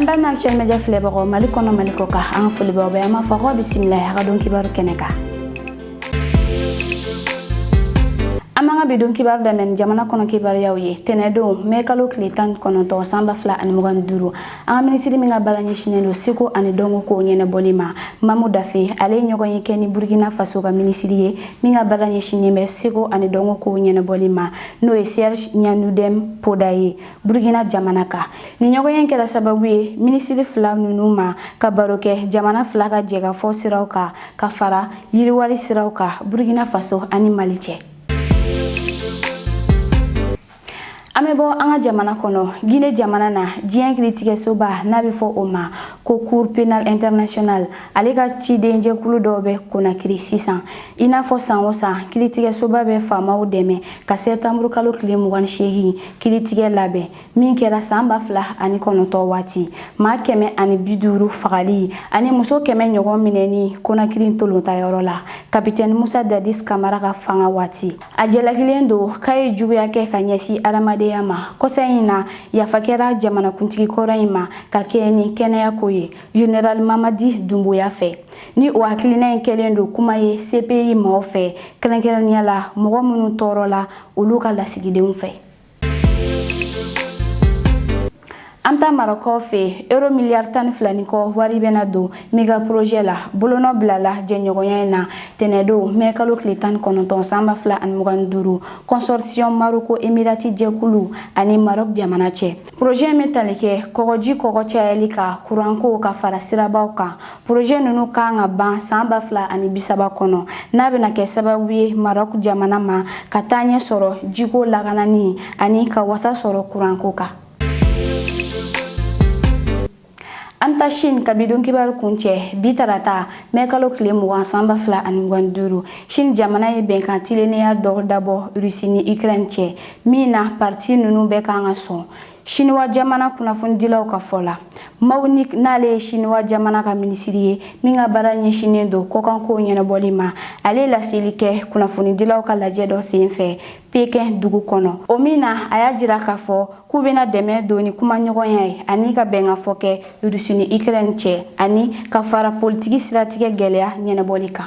an b'a ma actuel media filɛbagaw mali kɔnɔ mali kɔkan an ka foli b'aw bɛɛ an b'a fɔ aw bisimila a ka don kibaru kɛnɛ kan an b'an ka bi don kibaru daminɛ ni jamana kɔnɔ kibaruyaw ye tɛnɛdon mɛ kalo tile tan kɔnɔntɔn san ba fila ani mugan ni duuru an ka minisiri min ka baara ɲɛsinnen don seko ani dɔnko kow ɲɛnɛbɔli ma mamu dafe ale ye ɲɔgɔnye kɛ ni burkina faso ka minisiri ye min ka baara ɲɛsinnen bɛ seko ani dɔnko kow ɲɛnɛbɔli ma n'o ye serge ɲanudɛm poda ye burukina jamana kan nin ɲɔgɔnye kɛra sababu ye minisiri fila ninnu ma ka baro kɛ jamana fila ka jɛkafɔ siraw kan ka fara yiriwali siraw kan burukina faso ani mali cɛ an bɛ bɔ an ka jamana kɔnɔ gine jamana na diɲɛ kiritigɛsoba n'a bɛ fɔ o ma ko cour pénale internationale ale ka cidenjɛkulu dɔw bɛ konakiri sisan i n'a fɔ san o san kiritigɛsoba bɛ faamaw dɛmɛ ka sɛtanburukalo tile mugan ni seegin kiritigɛ labɛn min kɛra san ba fila ani kɔnɔntɔn waati maa kɛmɛ ani bi duuru fagali ani muso kɛmɛ ɲɔgɔn minɛni konakiri ntolatanyɔrɔ la kapitɛni musa dadis kamara ka fanga waati a jalakilen don k'a ye juguya kɛ ka ɲɛsin adamadenya ma kɔsa in na yafa kɛra jamanakuntigi kɔrɔ in ma ka kɛ ni kɛnɛya ko ye general mamadi dumbuya fɛ ni o hakilina in kɛlen don kuma ye cpi mɔgɔ fɛ kɛrɛnkɛrɛnnenya la mɔgɔ minnu tɔɔrɔla olu ka lasigidenw fɛ an bɛ taa marɔku fɛ euro miliyari tan ni fila ni kɔ wari bɛna don mega projet la bolonɔ bilala jɛɲɔgɔnya in na tɛnɛdon mɛ kalo tile tan ni kɔnɔntɔn san ba fila ani mugan ni duuru consortium maroko emirati jɛkulu ani marok jamana cɛ projet in bɛ tali kɛ kɔgɔji kɔgɔ cayali kan kuranko ka fara sirabaw kan Projet ninnu ka kan ka ban san ba fila ani bisaba kɔnɔ n'a bɛna kɛ sababu ye marɔku jamana ma ka taaɲɛ sɔrɔ jiko lakanani ani ka wasa sɔrɔ kuranko kan an taa sini ka bi don kibaru kuncɛ bi tarata mɛ kalo tile mugan san ba fila ani mugan duuru sini jamana ye bɛnkan tilennenya dɔ dabɔ rusi ni ukraine cɛ min na parti ninnu bɛɛ ka kan ka sɔn Siniwa jamana kunnafonidilaw ka fɔ la mao ning n'ale ye siniwa jamana ka minisiri ye min ka baara ɲɛsinnen don kɔkankow ɲɛnabɔli ma ale laseli kɛ kunnafonidilaw ka lajɛ dɔ sen fɛ pekɛn dugu kɔnɔ o min na a y'a jira k'a fɔ k'u bɛna dɛmɛ don ni kumaɲɔgɔnya ye ani ka bɛnkafɔ kɛ rusi ni ukraine cɛ ani ka fara politiki siratigɛ gɛlɛya ɲɛnabɔli kan